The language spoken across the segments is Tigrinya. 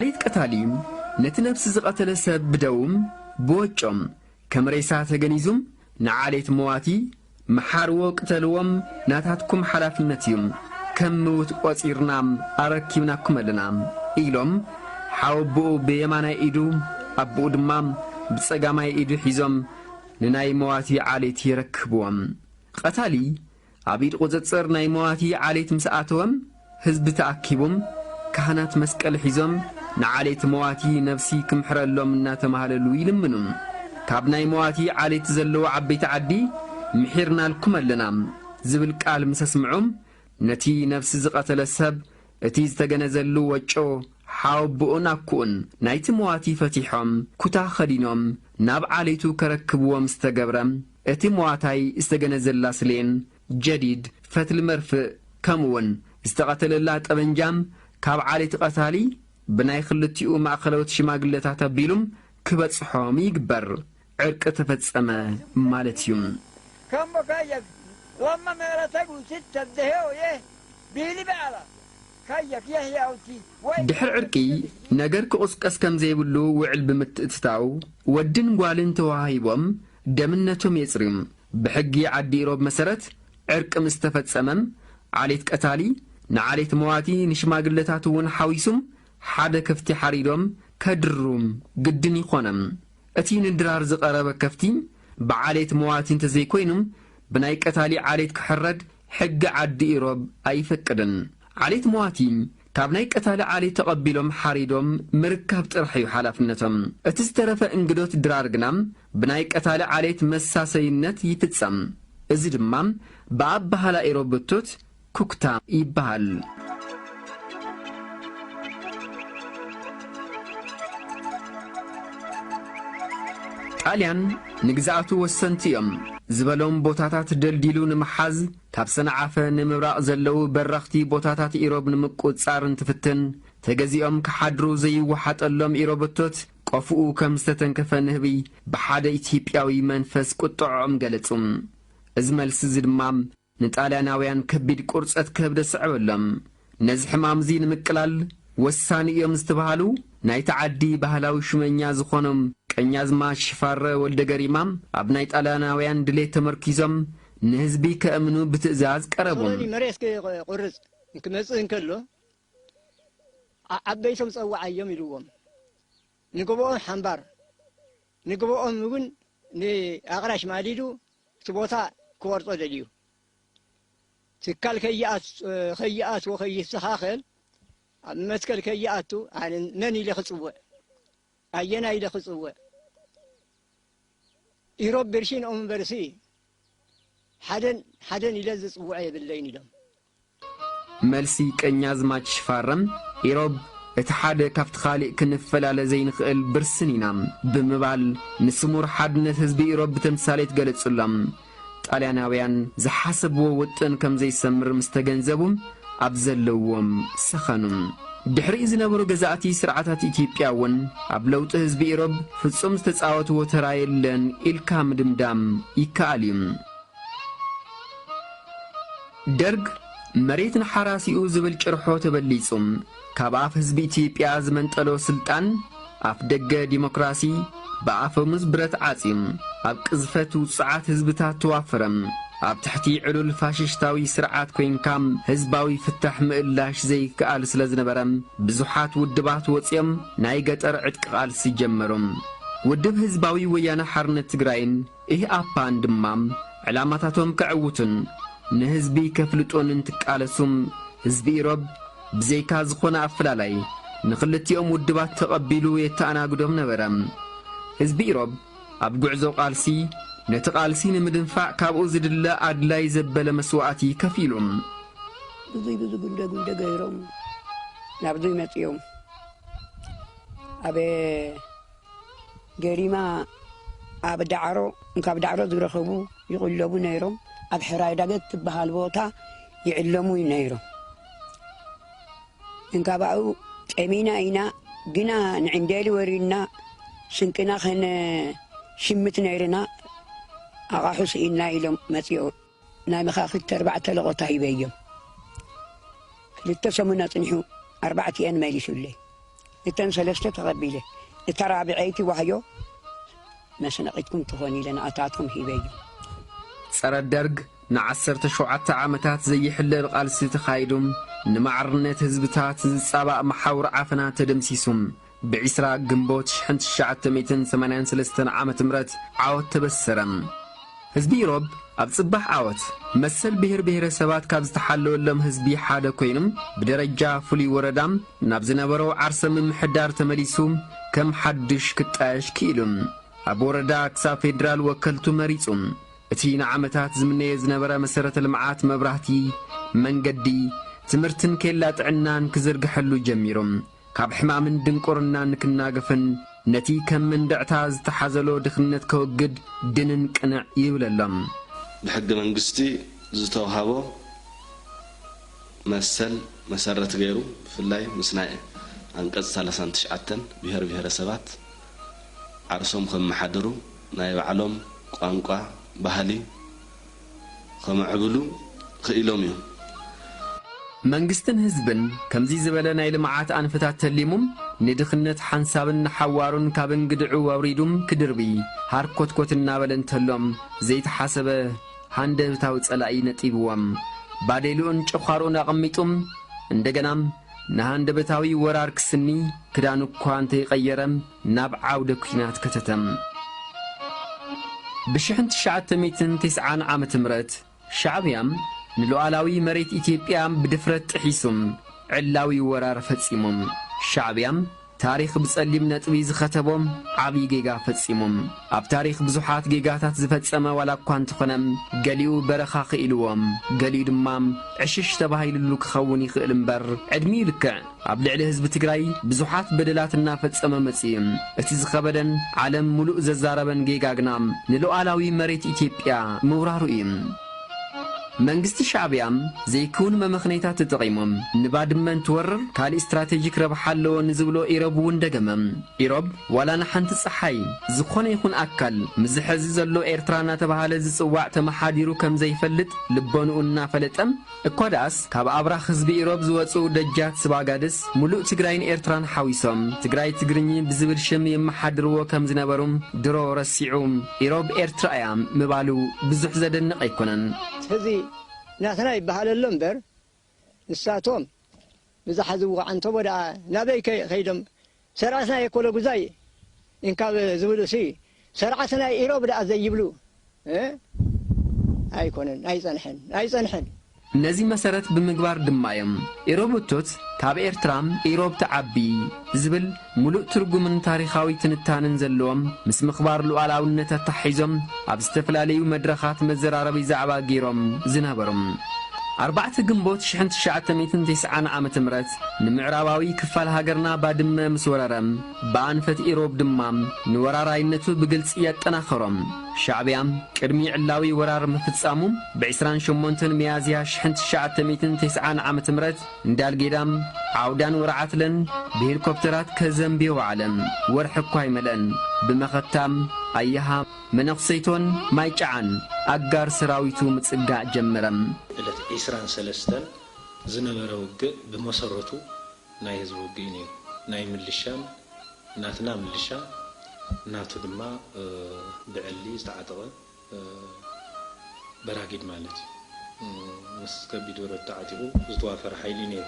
ፈሊጥ ቀታሊ ነቲ ነብሲ ዝቐተለ ሰብ ብደዉም ብወጮም ከም ሬሳ ተገኒዙም ንዓሌት መዋቲ ምሓርዎ ቅተልዎም ናታትኩም ሓላፍነት እዩ ከም ምዉት ቆጺርና ኣረኪብናኩም ኣለና ኢሎም ሓወቦኡ ብየማናይ ኢዱ ኣቦኡ ድማ ብጸጋማይ ኢዱ ሒዞም ንናይ መዋቲ ዓሌት የረክብዎም። ቐታሊ ኣብ ኢድ ቁጽጽር ናይ መዋቲ ዓሌት ምስ ኣተወም ህዝቢ ተኣኪቡም ካህናት መስቀል ሒዞም ንዓሌት መዋቲ ነብሲ ክምሕረሎም እናተማህለሉ ይልምኑ ካብ ናይ መዋቲ ዓሌት ዘለዉ ዓበይቲ ዓዲ ምሒርናልኩም ኣለና ዝብል ቃል ምስ ኣስምዑ ነቲ ነብሲ ዝቀተለ ሰብ እቲ ዝተገነዘሉ ወጮ ሓወብኡን ኣኩኡን ናይቲ መዋቲ ፈቲሖም ኩታ ከዲኖም ናብ ዓሌቱ ከረክብዎም ዝተገብረ እቲ ሞዋታይ ዝተገነዘላ ስሌን፣ ጀዲድ፣ ፈትሊ መርፍእ ከምኡውን ዝተቐተለላ ጠበንጃም ካብ ዓሌት ቐታሊ ብናይ ክልቲኡ ማእኸለዎት ሽማግለታት ኣቢሉም ክበፅሖም ይግበር። ዕርቂ ተፈፀመ ማለት እዩ። ድሕሪ ዕርቂ ነገር ክቑስቀስ ከምዘይብሉ ውዕል ብምትእትታው ወድን ጓልን ተወሃሂቦም ደምነቶም የጽርዩ። ብሕጊ ዓዲ ኢሮብ መሰረት ዕርቂ ምስ ተፈጸመም ዓሌት ቀታሊ ንዓሌት መዋቲ ንሽማግለታት እውን ሓዊሱም ሓደ ከፍቲ ሓሪዶም ከድርሩ ግድን ይኾነም። እቲ ንድራር ዝቐረበ ከፍቲ ብዓሌት መዋቲ እንተዘይኮይኑ ብናይ ቀታሊ ዓሌት ክሕረድ ሕጊ ዓዲ ኢሮብ ኣይፈቅድን። ዓሌት መዋቲ ካብ ናይ ቀታሊ ዓሊ ተቐቢሎም ሓሪዶም ምርካብ ጥራሕ እዩ ሓላፍነቶም። እቲ ዝተረፈ እንግዶት ድራር ግና ብናይ ቀታሊ ዓሌት መሳሰይነት ይፍጸም። እዚ ድማ ብኣበሃህላ ኢሮብ ብቱት፣ ኩክታ፣ ይበሃል። ጣልያን ንግዝኣቱ ወሰንቲ እዮም ዝበሎም ቦታታት ደልዲሉ ንምሓዝ፣ ካብ ሰንዓፈ ንምብራቕ ዘለዉ በረኽቲ ቦታታት ኢሮብ ንምቁጽጻር እንትፍትን፣ ተገዚኦም ክሓድሩ ዘይወሓጠሎም ኢሮበቶት ቆፎኡ ከም ዝተተንከፈ ንህቢ ብሓደ ኢትይጵያዊ መንፈስ ቁጠዖኦም ገለጹ። እዚ መልሲዚ ድማ ንጣልያናውያን ከቢድ ቁርጸት ከብዲ ኣስዐበሎም። ነዚ ሕማም'ዚ ንምቅላል ወሳኒ እዮም ዝተብሃሉ ናይቲ ዓዲ ባህላዊ ሹመኛ ዝኾኖም ቀኛዝማች ሽፋረ ወልደገሪማ ኣብ ናይ ጣልያናውያን ድሌት ተመርኲዞም ንህዝቢ ከእምኑ ብትእዛዝ ቀረቡ። ሙሶሎኒ መሬት ክቖርጽ ክመጽእ እንከሎ ዓበይቶም ጸውዓዮም ኢልዎም ንግብኦም ሓምባር ንግብኦም እውን ንኣቕራሽ ማሊዱ እቲ ቦታ ክቖርጾ ደልዩ። ትካል ከይኣትዎ ከይስተኻኸል ኣብ መትከል ከይኣቱ ኣነ መን ኢለ ክፅውዕ ኣየና ኢለ ክፅውዕ ኢሮብ ብርሽን እምበርሲ ሓደን ሓደን ኢለ ዝፅውዐ የብለይን ኢሎም። መልሲ ቀኛዝማች ሽፋረም ኢሮብ እቲ ሓደ ካብቲ ካሊእ ክንፈላለ ዘይንኽእል ብርስን ኢና ብምባል ንስሙር ሓድነት ህዝቢ ኢሮብ ብተምሳሌት ገለፁሎም። ጣልያናውያን ዝሓሰብዎ ውጥን ከም ዘይሰምር ምስ ተገንዘቡ ኣብ ዘለዎም ሰኸኑ። ድሕሪኡ ዝነበሩ ገዛእቲ ስርዓታት ኢትዮጵያ እውን ኣብ ለውጢ ህዝቢ ኢሮብ ፍጹም ዝተጻወትዎ ተራ የለን ኢልካ ምድምዳም ይከኣል እዩ። ደርግ መሬት ንሓራሲኡ ዝብል ጭርሖ ተበሊጹ ካብ ኣፍ ህዝቢ ኢትዮጵያ ዝመንጠሎ ስልጣን ኣፍ ደገ ዲሞክራሲ ብኣፈሙዝ ብረት ዓጽዩ ኣብ ቅዝፈት ውጹዓት ህዝብታት ተዋፍረ ኣብ ትሕቲ ዕሉል ፋሽሽታዊ ስርዓት ኮይንካ ህዝባዊ ፍታሕ ምእላሽ ዘይከኣል ስለ ዝነበረ ብዙሓት ውድባት ወጽዮም ናይ ገጠር ዕጥቂ ቃልሲ ጀመሩ። ውድብ ህዝባዊ ወያነ ሓርነት ትግራይን ኢህኣፓን ድማ ዕላማታቶም ከዕውቱን ንህዝቢ ከፍልጡን እንትቃለሱ ህዝቢ ኢሮብ ብዘይካ ዝኾነ ኣፈላላይ ንኽልቲኦም ውድባት ተቐቢሉ የተኣናግዶም ነበረ። ህዝቢ ኢሮብ ኣብ ጉዕዞ ቃልሲ ነቲ ቃልሲ ንምድንፋዕ ካብኡ ዝድለ ኣድላይ ዘበለ መስዋእቲ ከፊሉ። ብዙይ ብዙ ጉንደ ጉንደ ገይሮም ናብዙይ መጺኦም። ኣብ። ገሪማ ኣብ ዳዕሮ እንካብ ዳዕሮ ዝረከቡ ይቕለቡ ነይሮም ኣብ ሕራይ ዳገት ትበሃል ቦታ ይዕለሙ ነይሮም እንካባኡ ጠሚና ኢና ግና ንዕንዴሊ ወሪድና ስንቅና ከነሽምት ነይርና ኣቓሑ ስኢንና ኢሎም መፂኦ ናይ መኻኽት ኣርባዕተ ለቖታ ሂበዮም ክልተ ሰሙን ኣጽኒሑ ኣርባዕቲኤን መሊሱለይ እተን ሰለስተ ተቐቢለ እታ ራብዐይቲ ዋህዮ መስነቒትኩም ትኾን ኢለ ንኣታቶም ሂበዮም። ጸረ ደርግ ንዓሰርተ ሸውዓተ ዓመታት ዘይሕለል ቓልሲ ተኻይዱ ንማዕርነት ህዝብታት ዝጻባእ መሓውር ዓፈና ተደምሲሱ ብ ዕስራ ግንቦት ሽሕን ትሽዓተ ሚእትን ሰማንያን ሰለስተን ዓመት ምረት ዓወት ተበሰረ። ህዝቢ ኢሮብ ኣብ ጽባሕ ዓወት፣ መሰል ብሄር ብሄረሰባት ካብ ዝተሓለወሎም ህዝቢ ሓደ ኮይኑ፣ ብደረጃ ፍሉይ ወረዳ ናብ ዝነበሮ ዓርሰ ምምሕዳር ተመሊሱ ከም ሓድሽ ክጣየሽ ክኢሉ። ኣብ ወረዳ ክሳብ ፌደራል ወከልቱ መሪጹ። እቲ ንዓመታት ዝምነዮ ዝነበረ መሰረተ ልምዓት መብራህቲ፣ መንገዲ፣ ትምህርትን ኬላ ጥዕናን ክዝርግሐሉ ጀሚሩ። ካብ ሕማምን ድንቁርናን ክናገፍን ነቲ ከም መንድዕታ ዝተሓዘሎ ድኽነት ከወግድ ድንን ቅንዕ ይብለሎም። ብሕገ መንግስቲ ዝተውሃቦ መሰል መሰረት ገይሩ ብፍላይ ምስ ናይ ኣንቀፅ ሰላሳን ትሽዓተን ብሄር ብሄረሰባት ዓርሶም ከመሓድሩ፣ ናይ ባዕሎም ቋንቋ፣ ባህሊ፣ ኸምዕብሉ ኽኢሎም እዮም። መንግስትን ህዝብን ከምዚ ዝበለ ናይ ልምዓት ኣንፈታት ተሊሙም ንድኽነት ሓንሳብን ንሓዋሩን ካብ እንግድዕኡ ኣውሪዱም ክድርቢ ሃርኮትኮት እናበለ እንተሎም ዘይተሓሰበ ሃንደብታዊ ፀላኢ ነጢብዎም ባዴልኡን ጨዃርኡን ኣቐሚጡም እንደገና ንሃንደበታዊ ወራር ክስኒ ክዳኑ እኳ እንተይቐየረ ናብ ዓውደ ኲናት ከተተም። ብሽሕን ትሽዓተ ሚእትን ቴስዓን ዓመተ ምህረት ሻዕብያ ንሉኣላዊ መሬት ኢትዮጵያ ብድፍረት ጥሒሱ ዕላዊ ወራር ፈጺሙ። ሻዕብያ ታሪኽ ብጸሊም ነጥቢ ዝኸተቦ ዓቢ ጌጋ ፈጺሙ። ኣብ ታሪኽ ብዙሓት ጌጋታት ዝፈጸመ ዋላ እኳ እንተኾነ ገሊኡ በረኻ ክኢልዎ ገሊኡ ድማ ዕሽሽ ተባሂልሉ ክኸውን ይኽእል እምበር ዕድሚኡ ልክዕ ኣብ ልዕሊ ህዝቢ ትግራይ ብዙሓት በደላት እናፈጸመ መጺኡ። እቲ ዝኸበደን ዓለም ሙሉእ ዘዛረበን ጌጋ ግና ንሉኣላዊ መሬት ኢትዮጵያ ምውራሩ እዩ። መንግስቲ ሻዕቢያ ዘይክውን መመኽነይታት ተጠቒሙ ንባድመ እንትወርር ካሊእ ስትራቴጂክ ረብሓ ኣለዎ ንዝብሎ ኢሮብ እውን ደገመ። ኢሮብ ዋላ ንሓንቲ ፀሓይ ዝኾነ ይኹን ኣካል ምስዚ ሐዚ ዘሎ ኤርትራ እናተብሃለ ዝፅዋዕ ተመሓዲሩ ከምዘይፈልጥ ልቦንኡ እናፈለጠ፣ እኳ ድኣስ ካብ ኣብራኽ ህዝቢ ኢሮብ ዝወጽኡ ደጃት ስባጋድስ ሙሉእ ትግራይን ኤርትራን ሓዊሶም ትግራይ ትግርኚ ብዝብል ሽም የመሓድርዎ ከም ዝነበሩ ድሮ ረሲዑ ኢሮብ ኤርትራ እያ ምባሉ ብዙሕ ዘደንቕ ኣይኮነን። ሕዚ ናትና ይበሃል ኣሎ እምበር ንሳቶም ብዝሓዝዎ ዓንተቦ ድኣ ናበይ ከይዶም ሰርዓት ናይ ኤኮሎጉዛይ እንካብ ዝብሉ ሲ ሰርዓት ናይ ኢሮብ ደኣ ዘይብሉ እህ ኣይኮነን ኣይጸንሐን ኣይጸንሐን። ነዚ መሰረት ብምግባር ድማ እዮም ኢሮብ እቶት ካብ ኤርትራ ኢሮብ ትዓቢ ዝብል ሙሉእ ትርጉምን ታሪኻዊ ትንታነን ዘለዎም ምስ ምኽባር ሉኣላውነት ኣተሓሒዞም ኣብ ዝተፈላለዩ መድረኻት መዘራረቢ ዛዕባ ገይሮም ዝነበሩ ኣርባዕተ ግንቦት ሽሕን ትሽዓተ ሚእትን ቴስዓን ዓመተ ምህረት ንምዕራባዊ ክፋል ሃገርና ባድመ ምስ ወረረ፣ ብኣንፈት ኢሮብ ድማ ንወራራይነቱ ብግልጺ ኣጠናኸሮ። ሻዕብያ ቅድሚ ዕላዊ ወራር ምፍጻሙ ብዕስራን ሸሞንተን ሚያዝያ ሽሕን ትሽዓተ ሚእትን ተስዓን ዓመተ ምህረት እንዳልጌዳም፣ ዓውዳን ወርዓትለን ብሄሊኮፕተራት ከዘንብዮ ወዓለ። ወርሒ እኳ ኣይመልአን ብመኸታ ኣያሃ፣ መነኩሰይቶን ማይጨዓን ኣጋር ሰራዊቱ ምጽጋዕ ጀመረ። ዕለት ዕስራን ሰለስተን ዝነበረ ውግእ ብመሰረቱ ናይ ህዝቢ ውግእ'ዩ ነይሩ። ናይ ምልሻን ናትና ምልሻ ናቱ ድማ ብዕሊ ዝተዓጠቐ በራጊድ ማለት'ዩ። ምስ ከቢድ ብረት ተዓጢቑ ዝተዋፈረ ሓይሊ'ዩ ነይሩ።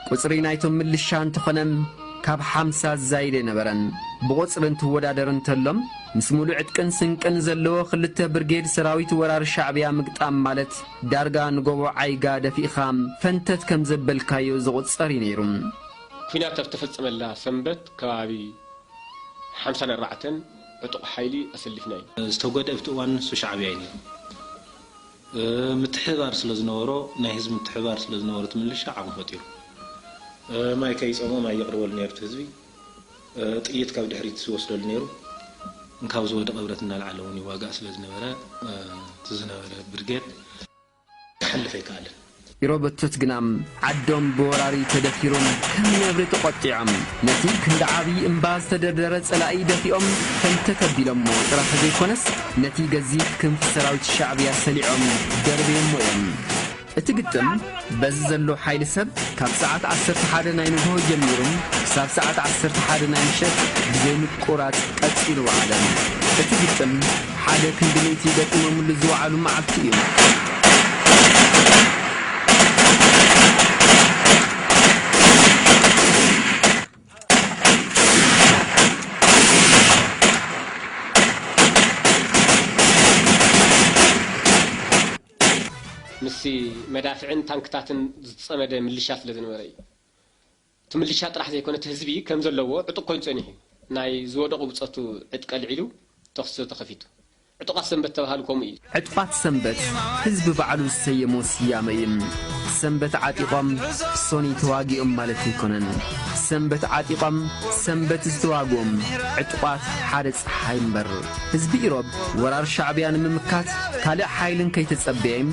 ቁጽሪ ናይቶም ምልሻ እንተኾነም ካብ ሓምሳ ዝዛይድ ኣይነበረን። ብቑጽሪ እንትወዳደር እንተሎም ምስ ሙሉእ ዕጥቅን ስንቅን ዘለዎ ክልተ ብርጌድ ሰራዊት ወራሪ ሻዕብያ ምግጣም ማለት፣ ዳርጋ ንጎቦ ዓይጋ ደፊእኻ ፈንተት ከም ዘበልካዮ ዝቑጸር እዩ ነይሩ። ኲናት ኣብ እተፈጸመላ ሰንበት ከባቢ ሓምሳን ኣርባዕተን ዕጡቕ ሓይሊ ኣሰሊፍና ኢና። ዝተጎድኤ ኣብቲ እዋን ንሱ ሻዕብያ እዩ ነይሩ። ምትሕብባር ስለ ዝነበሮ ናይ ህዝቢ ምትሕብባር ስለ ዝነበሮ እቲ ምልሻ ዓቕሚ ፈጢሩ። ማይ ከይጸምኦ ማይ የቕርበሉ ነይሩ እቲ ህዝቢ። ጥይት ካብ ድሕሪት ዝወስደሉ ነይሩ። እንካብ ዝወደቐ ብረት እናልዓለ እውን ይዋጋእ ስለ ዝነበረ እቲ ዝነበረ ብርጌድ ክሓልፍ ኣይከኣለን። ኢሮበቶት ግናም ዓዶም ብወራሪ ተደፊሩም ከም ነብሪ ተቖጢዖም ነቲ ክንዲ ዓብዪ እምባ ዝተደርደረ ጸላኢ ደፊኦም ፈንተት ኣቢሎሞ ጥራሕ ዘይኮነስ ነቲ ገዚፍ ክንፊ ሰራዊት ሻዕብያ ሰሊዖም ደርብዮሞ እዮም። እቲ ግጥም በዚ ዘሎ ሓይሊ ሰብ ካብ ሰዓት ዓሰርተ ሓደ ናይ ንግሆ ጀሚሩ ክሳብ ሰዓት ዓሰርተ ሓደ ናይ ምሸት ብዘይ ምቁራጽ ቀጺሉ ወዓለ። እቲ ግጥም ሓደ ክንዲ ሚእቲ ገጢሞምሉ ዝወዓሉ መዓልቲ እዩ። ምስ መዳፍዕን ታንክታትን ዝጸመደ ምልሻ ስለ ዝነበረ እዩ። እቲ ምልሻ ጥራሕ ዘይኮነ እቲ ህዝቢ ከም ዘለዎ ዕጡቕ ኮይኑ ጸኒሑ እዩ። ናይ ዝወደቑ ብጾቱ ዕጥቂ ኣልዒሉ ተኹሲ ተኸፊቱ። ዕጡቓት ሰንበት ዝተባህሉ ከምኡ እዩ። ዕጡቓት ሰንበት ህዝቢ ባዕሉ ዝሰየሞ ስያመ እዩ። ሰንበት ዓጢቖም ሶኒ ተዋጊኦም ማለት ኣይኮነን። ሰንበት ዓጢቖም ሰንበት ዝተዋግኡም ዕጡቓት ሓደ ጸሓይ እምበር። ህዝቢ ኢሮብ ወራር ሻዕብያ ንምምካት ካልእ ሓይልን ከይተጸበዬም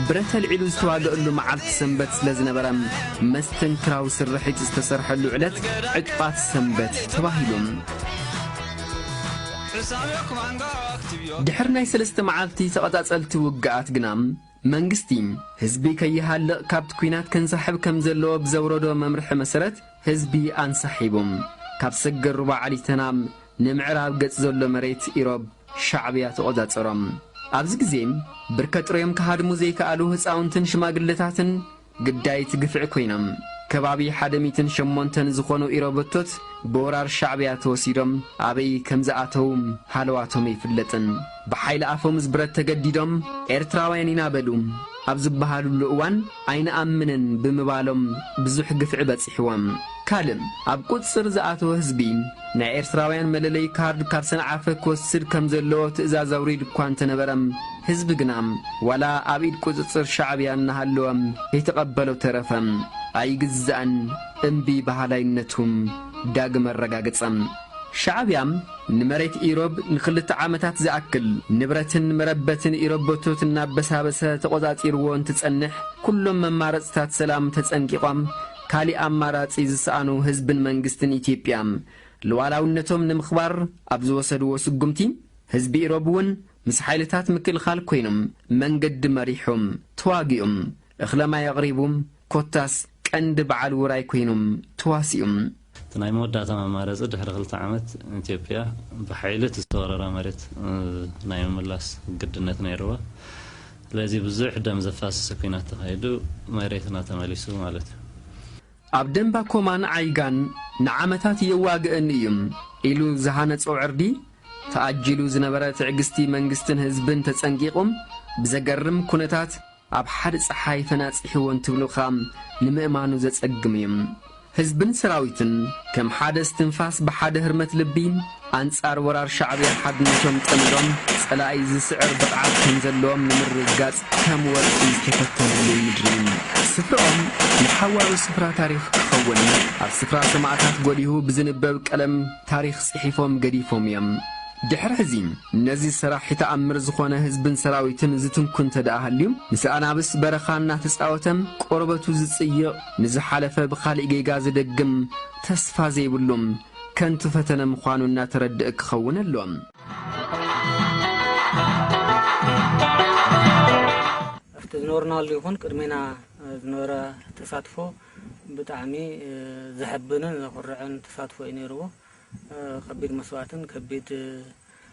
ብረት ኣልዒሉ ዝተዋገእሉ መዓልቲ ሰንበት ስለ ዝነበረ መስተንክራዊ ስርሒት ዝተሰርሐሉ ዕለት ዕጡቓት ሰንበት ተባሂሉ። ድሕሪ ናይ ሰለስተ መዓልቲ ተቐጻጸልቲ ውግኣት ግና፣ መንግስቲ፣ ህዝቢ ከይሃልቕ ካብቲ ኲናት ከንሳሕብ ከም ዘለዎ ብዘውረዶ መምርሒ መሰረት ህዝቢ ኣንሳሒቡ። ካብ ሰገር ሩባ ዓሊ ተናም ንምዕራብ ገጽ ዘሎ መሬት ኢሮብ ሻዕብያ ተቖጻጸሮ። ኣብዚ ግዜ ብርከ ጥርዮም ክሃድሙ ዘይከኣሉ ህጻውንትን ሽማግለታትን፣ ግዳይት ግፍዒ ኮይኖም ከባቢ ሓደ ሚትን ሸሞንተን ዝኾኑ ኢሮበቶት ብወራር ሻዕብያ ተወሲዶም ኣበይ ከምዝኣተው ሃለዋቶም ኣይፍለጥን ብሓይሊ ኣፈሙዝ ብረት ተገዲዶም ኤርትራውያን ኢና በሉ ኣብ ዝበሃልሉ እዋን ኣይንኣምንን ብምባሎም ብዙሕ ግፍዒ በጺሕዎም ካልእ ኣብ ቁጽጽር ዝኣተወ ህዝቢ፣ ናይ ኤርትራውያን መለለዪ ካርድ ካብ ሰንዓፈ ክወስድ ከም ዘለዎ ትእዛዝ ኣውሪዱ እኳ እንተነበረ፣ ህዝቢ ግና ዋላ ኣብ ኢድ ቁጽጽር ሻዕብያ እናሃለወ ከይተቐበሎ ተረፈ። ኣይግዛእን እምቢ በሃላይነቱ ዳግም ኣረጋገጸ። ሻዕብያ ንመሬት ኢሮብ ንክልተ ዓመታት ዝኣክል ንብረትን መረበትን ኢሮበቶት እናበሳበሰ ተቖጻጺርዎ እንትጸንሕ፣ ኩሎም መማረጽታት ሰላም ተጸንቂቖም፣ ካሊእ ኣማራፂ ዝሰኣኑ ህዝብን መንግስትን ኢትዮጵያ ሉኣላዊነቶም ንምኽባር ኣብ ዝወሰድዎ ስጉምቲ ህዝቢ ኢሮብ እውን ምስ ሓይልታት ምክልኻል ኮይኑም መንገዲ መሪሑም ተዋጊኡም እኽለማይ ኣቕሪቡም ኮታስ ቀንዲ በዓል ውራይ ኮይኑም ተዋሲኡም። እቲ ናይ መወዳእታ መማረፂ ድሕሪ ክልተ ዓመት ኢትዮጵያ ብሓይሊ እቲ ዝተወረራ መሬት ናይ ምምላስ ግድነት ነይርዋ። ስለዚ ብዙሕ ደም ዘፋስስ ኩናት ተኻይዱ መሬትና ተመሊሱ ማለት እዩ። ኣብ ደምባ ኮማን ዓይጋን ንዓመታት የዋግእኒ እዩም ኢሉ ዝሃነጾ ዕርዲ፣ ተኣጂሉ ዝነበረ ትዕግስቲ መንግስትን ህዝብን ተጸንቂቑም ብዘገርም ኩነታት ኣብ ሓዲ ጸሓይ ፈናጺሕዎ እንትብሉኻ ንምእማኑ ዘጸግም እዩ። ህዝብን ሰራዊትን ከም ሓደ እስትንፋስ ብሓደ ህርመት ልቢ ኣንጻር ወራር ሻዕብያ ሓድነቶም ጠምዶም ጸላኢ ዝስዕር ብቕዓት ከም ዘለዎም ንምርግጋጽ ከም ወርቂ ዝተፈተንሉ ምድሪ ስፍርኦም ንሓዋሩ ስፍራ ታሪኽ ክኸውን ኣብ ስፍራ ሰማእታት ጎሊሁ ብዝንበብ ቀለም ታሪኽ ጽሒፎም ገዲፎም እዮም። ድሕሪ ሕዚ ነዚ ሰራሒ ተኣምር ዝኾነ ህዝብን ሰራዊትን ዝትንኩ እንተድኣ ሃልዩ ምስ ኣናብስ በረኻ እናተጻወተ ቆርበቱ ዝጽይቕ ንዝሓለፈ ብኻሊእ ጌጋ ዝደግም ተስፋ ዘይብሉ ከንቱ ፈተነ ምዃኑ እናተረደእ ክኸውን ኣለዎ። ኣብቲ ዝነበርናሉ ይኹን ቅድሜና ዝነበረ ተሳትፎ ብጣዕሚ ዘሕብንን ዘኹርዕን ተሳትፎ እዩ ነይርዎ። ከቢድ መስዋእትን ከቢድ